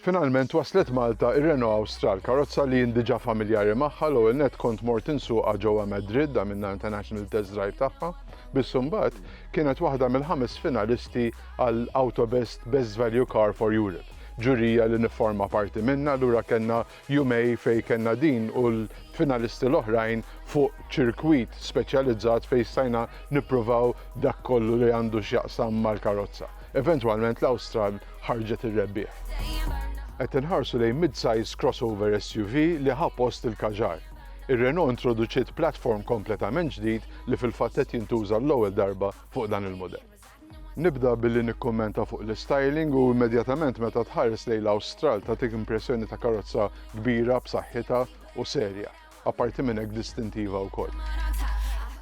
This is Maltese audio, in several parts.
Finalment waslet Malta ir-Renault Austral, karozza li jien diġà familjari magħha l ewwel net kont mort insuqha ġewwa Madrid da minna international test drive tagħha, biss imbagħad kienet waħda mill-ħames finalisti għal Autobest Best Value Car for Europe. ġurija li nifforma parti minnha, allura kellna jumej fejn kellna din u l-finalisti l-oħrajn fuq ċirkwit speċjalizzat fejn stajna nippruvaw dak kollu li għandu x'jaqsam mal-karozza. Eventwalment l-Austral ħarġet ir-rebbieħ. Qed inħarsu lejn mid-size crossover SUV li ħa post il-Kadjar. Ir-Renault introduċiet platform kompletament ġdid li fil-fatt qed jintuża għall-ewwel darba fuq dan il-mudell. Nibda billi nikkummenta fuq l-istyling u immedjatament meta tħares lejn l-Awstral tagħtik impressjoni ta' karozza kbira, b'saħħitha u serja. Apparti minn hekk distintiva wkoll.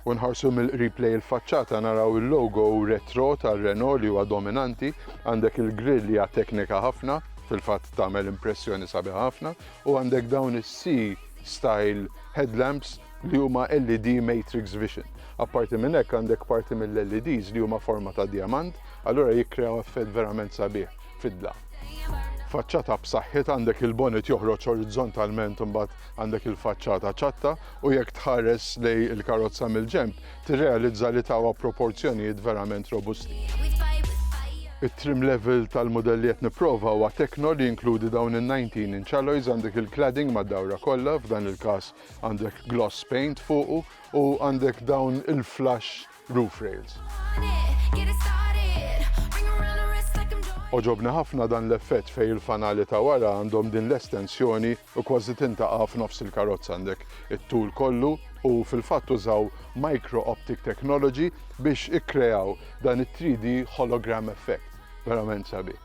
U nħarsu mill-qrib lejn il-faċċata naraw il-logo retro tar-Renault li huwa dominanti, għandek il-grill li hija teknika ħafna, fil-fatt tagħmel impressjoni sabiħa ħafna, u għandek dawn is-C style headlamps li huma LED matrix vision. Apparti minn hekk għandek parti mill-LEDs li huma forma ta' djamant, allura jikkreaw effett verament sabiħ fid-dlam. Faċċata b'saħħitha għandek il-bonnet joħroġ orizzontalment imbagħad għandek il-faċċata ċatta u jekk tħares lej il-karozza mill-ġenb tirrealizza li tawha proporzjonijiet verament robusti. It-trim level tal-modelli qed nipprova huwa tekno li jinkludi dawn in-19 inch alloys għandek il-cladding mad-dawra kollha f'dan il-każ Għandek gloss paint fuqu u għandek dawn il-flush roof rails. Oġobni ħafna dan l-effett fej il-fanali ta' wara għandhom din l-estensjoni u kważi tintaqa' f'nofs il-karozza għandek it-tul kollu u fil-fatt użaw micro optic technology biex ikkreaw dan it-3D hologram effect. verament sabi.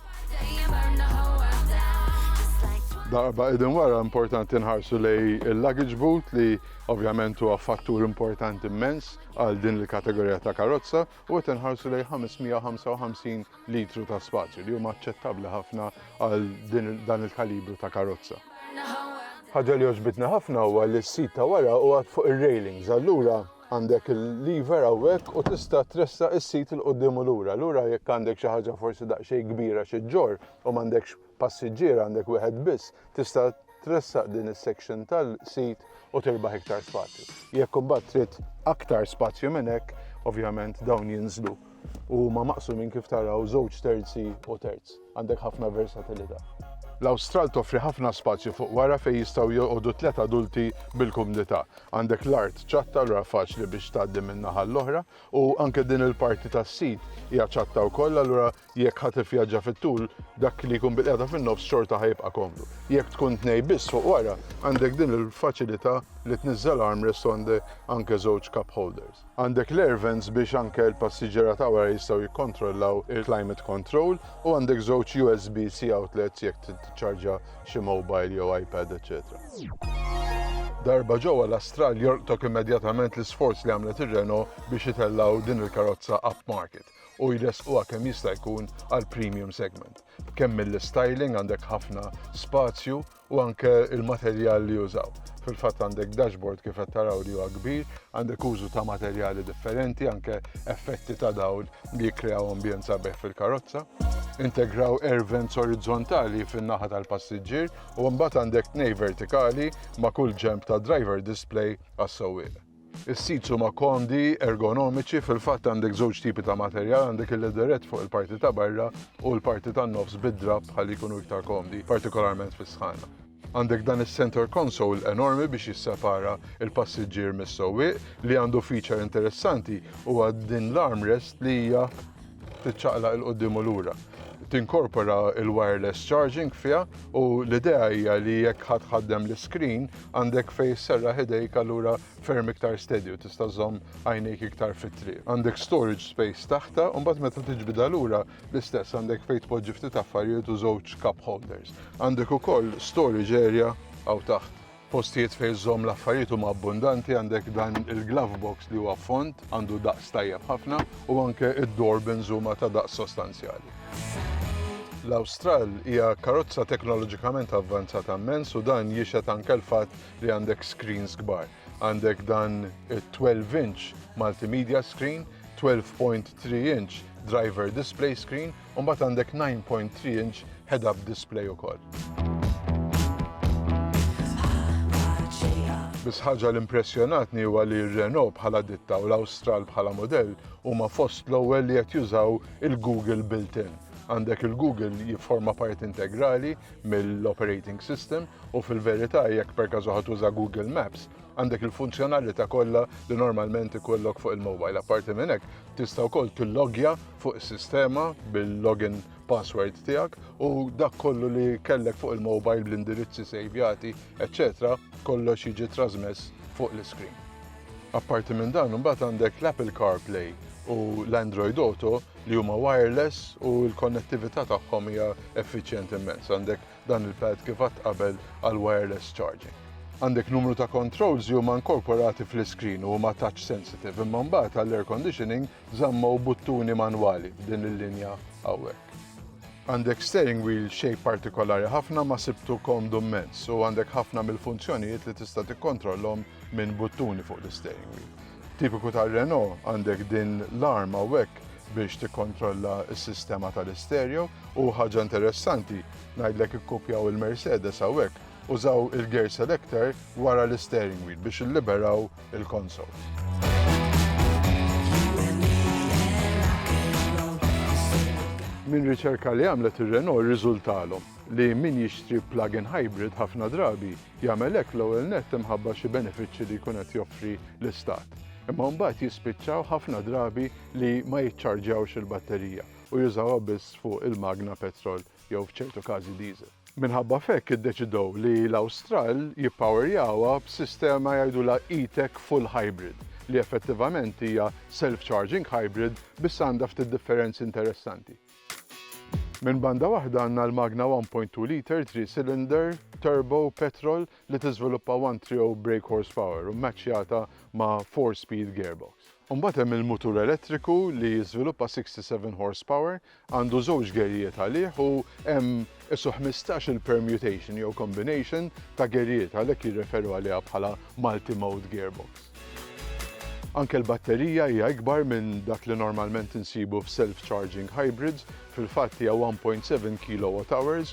Darba idin wara importanti nħarsu lej il-luggage boot li ovvjament huwa fattur importanti immens għal din il-kategorija ta' karozza u qed inħarsu lej 555 litru ta' spazju li huma aċċettabbli ħafna għal dan il-kalibru ta' karozza. Ħaġa li oġbitna ħafna huwa li s-sit ta' wara huwa fuq ir-railings allura Għandek il-lever hawnhekk u tista' tressaq is-sit 'il quddiem u lura. Lura jekk għandek xi ħaġa forsi daqsxejn kbira xi ġġorr u m'għandekx passiġġier għandek wieħed biss, tista' tressaq din is-section tal-sit u tirbaħ iktar spazju. Jekk imbagħad trid aktar spazju minn hekk, ovvjament dawn jinżlu u huma maqsumin kif taraw żewġ terzi u terz. Għandek ħafna versatilità. L-Awstral toffri ħafna spazju fuq wara fejn jistgħu joqogħdu tliet adulti bil-kumdità. Għandek l-art ċatta allura faċli biex tgħaddi minn naħa għall-oħra u anke din il-parti tas-sit hija ċatta wkoll allura jekk ħadd ivvjaġġa fit-tul dak li jkun bil-qiegħda fin-nofs xorta ħa jibqa' komdu. Jekk tkun tnej biss fuq wara għandek din il-faċilità li tniżżel armrest u għandek anke żewġ cup holders. Għandek l-air vents biex anke l-passiġġiera ta' wara jistgħu jikkontrollaw il-climate control u għandek żewġ USB-C outlets jekk trid tiċċarġa xi mobile jew iPad eċċetera. Darba ġewwa l-Astral jolqtok immedjatament l-isforz li għamlet ir-Renault biex itellgħu din il-karozza upmarket u jressquha kemm jista' jkun għall-premium segment. Kemm mill-styling għandek ħafna spazju u anke l-materjal li jużaw. Fil-fatt għandek dashboard kif qed taraw li huwa kbir, għandek użu ta' materjali differenti, anke effetti ta' dawl li jikkreaw ambjent sabiħ fil-karozza. Integraw air vents orizzontali fin-naħa tal-passiġġier u mbagħad għandek tnej vertikali ma' kull ġenb tad-driver display għas-sewwieq. Is-seats huma komdi, ergonomiċi, fil-fatt għandek żewġ tipi ta' materjal, għandek il-leatherette fuq il-parti ta' barra u l-parti tan-nofs bid-drapp ħalli jkunu iktar komdi, partikolarment fis-sħana. Għandek dan is-centre console enormi biex jissepara l-passiġġier mis-sewwieq, li għandu feature interessanti huwa din l-armrest li hija tiċċaqlaq 'il quddiem u lura. Tinkorpora il-wireless charging fiha u l-idea hija li jekk ħadd ħaddem l-iskrin għandek fejn serraħ idejk allura ferm iktar steady u tista' żomm għajnejk iktar fit-triq. Għandek storage space taħta u mbagħad meta tiġbidha lura l-istess għandek fejn tpoġġi ftit affarijiet u żewġ cup holders. Għandek ukoll storage area hawn taħt. Postijiet fejn żomm l-affarijiet huma abbundanti għandek dan il-glove box li huwa fond għandu daqs tajjeb ħafna u anke id-doorbins huma ta' daqs sostanzjali. L-Awstral hija karozza teknoloġikament avvanzata mmens u dan jixed anke l-fatt li għandek screens kbar. Għandek dan 12 inch multimedia screen, 12.3 inch driver display screen u mbagħad għandek 9.3 inch head-up display ukoll. Biss ħaġa li impressjonatni huwa li r-Renault bħala ditta u l-Awstral bħala modell huma fost l-ewwel li qed jużaw il-Google built-in. Għandek il-Google jifforma part integrali mill-operating system u fil-verità jekk per każu tuża Google Maps għandek il-funzjonalità kollha li normalment ikollok fuq il-mobile. Apparti minn hekk tista' wkoll tillogja fuq is-sistema bil-login password tiegħek u dak kollu li kellek fuq il-mobile bl-indirizzi sejvjati, eċċetera, kollox jiġi trasmess fuq l-iskrin. Apparti minn dan imbagħad għandek l-Apple CarPlay u l-Android Auto li huma wireless u l-konnettività tagħhom hija effiċjenti immens. Għandek dan il-pad kif għad qabel għal wireless charging. Għandek numru ta' controls li huma inkorporati fl-iskrin u huma touch sensitive imma mbagħad għall-air conditioning żamma u buttuni manwali f'din il-linja hawnhekk. Għandek steering wheel shape partikolari ħafna ma sibtu komdu mmens u għandek ħafna mill-funzjonijiet li tista' tikkontrollhom minn buttuni fuq l-steering wheel. Tipiku tar-Renault għandek din l-arm hawnhekk biex tikkontrolla s-sistema tal-istereo u ħaġa interessanti ngħidlek ikkupjaw il-Mercedes hawnhekk użaw il-gear selector wara l-steering wheel biex illiberaw Minn riċerka li għamlet ir-Renault rriżultalhom li min jixtri plug-in hybrid ħafna drabi jagħmel hekk l-ewwel nett imħabba xi benefiċċji li jkun qed joffri l-istat. Imma mbagħad jispiċċaw ħafna drabi li ma jiċċarġjawx il-batterija u jużawha biss fuq il-magna petrol jew f'ċertu każi diesel. Minħabba f'hekk iddeċidew li l-Awstral jippawerjawha b'sistema jgħidulha E-Tech Full Hybrid li effettivament hija self-charging hybrid biss għandha ftit differenzi interessanti. Minn banda waħda għandna l-magna 1.2 liter three cylinder turbo petrol li tiżviluppa 130 brake horsepower u mmaċċjata ma' four speed gearbox. Imbagħad hemm il-mutur elettriku li jiżviluppa 67 horsepower għandu żewġ gerrijiet għalih u hemm isu ħmistax-il permutation jew combination ta' gerrijiet, għalhekk jirreferu għaliha bħala multi-mode gearbox. Anke l-batterija hija ikbar minn dak li normalment insibu f'self-charging hybrids, fil-fatt hija 1.7 kilowatt hours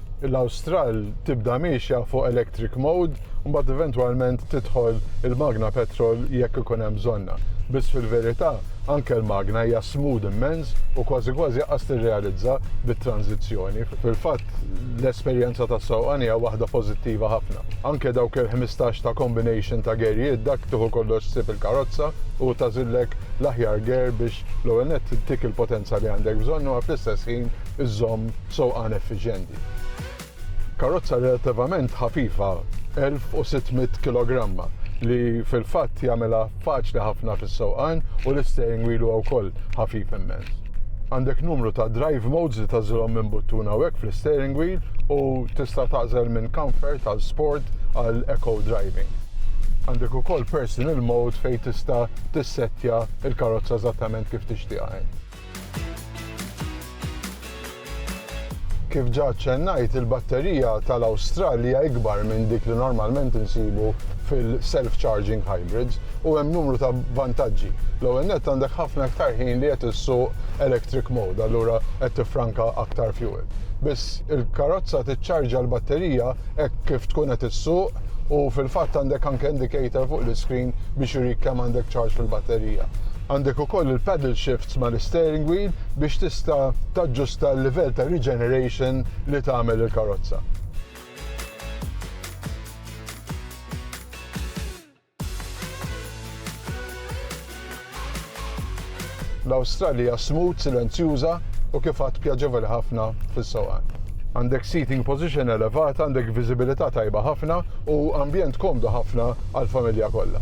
l-Awstral tibda miexja fuq electric mode u mbagħad eventwalment tidħol il-magna petrol jekk ikun hemm bżonna. Biss fil-verità anke l-magna hija smooth immens u kważi kważi qas tirrealizza bit-tranżizzjoni. Fil-fatt l-esperjenza tas-sewqan hija waħda pożittiva ħafna. Anke dawk il-ħmistax ta' combination ta' gejrijiet dak tieħu kollox ssib il-karozza u tagħżillek l-aħjar gear biex l-ewwel nett ittik il-potenza li għandek bżonn u fl-istess ħin iżżomm sewqan effiċjenti. Karozza relattivament ħafifa, 1,600 kilogramma, li fil-fatt jagħmilha faċli ħafna fis-sewqan u l-isteering wheel huwa wkoll ħafif immens. Għandek numru ta' drive modes li tagħżilhom minn buttun hawnhekk fl-isteering wheel u tista' tagħżel minn comfort għal sport għal eco driving. Għandek ukoll personal mode fejn tista' tissettja l-karozza eżattament kif tixtieqha int. Kif ġa ċċennajt, il-batterija tal-Awstralja ikbar minn dik li normalment insibu fil-self-charging hybrids u hemm numru ta' vantaġġi. L-ewwel nett għandek ħafna iktar ħin li qed issuq electric mode, allura qed tiffranka aktar fuel. Biss il-karozza tiċċarġa l-batterija hekk kif tkun qed issuq u fil-fatt għandek anke indicator fuq l-iskrin biex jurik kemm għandek ċarġ fil-batterija. Għandek ukoll il-paddle shifts mal-steering wheel biex tista' taġġusta l-livell ta' regeneration li tagħmel il-karozza. L-Awstralija smooth, silenzjuża u kif għad pjaġevoli ħafna fis-sewqan. Għandek seating position elevata, għandek viżibilità tajba ħafna u ambjent komdu ħafna għall-familja kollha.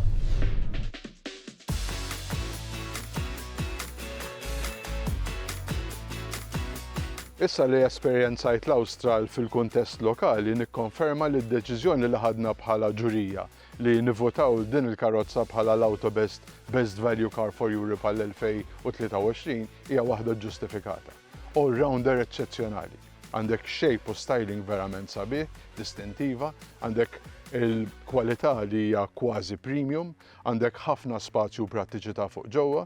Issa li esperjenzajt l-Awstral fil-kuntest lokali nikkonferma li d-deċiżjoni li ħadna bħala ġurija li nivvotaw din il-karozza bħala l-Autobest Best Value Car for Europe għall-2023 hija waħda ġġustifikata. All rounder eċċezzjonali. Għandek shape u styling verament sabiħ, distintiva, għandek il-kwalità li hija kważi premium, għandek ħafna spazju u prattiċità fuq ġewwa,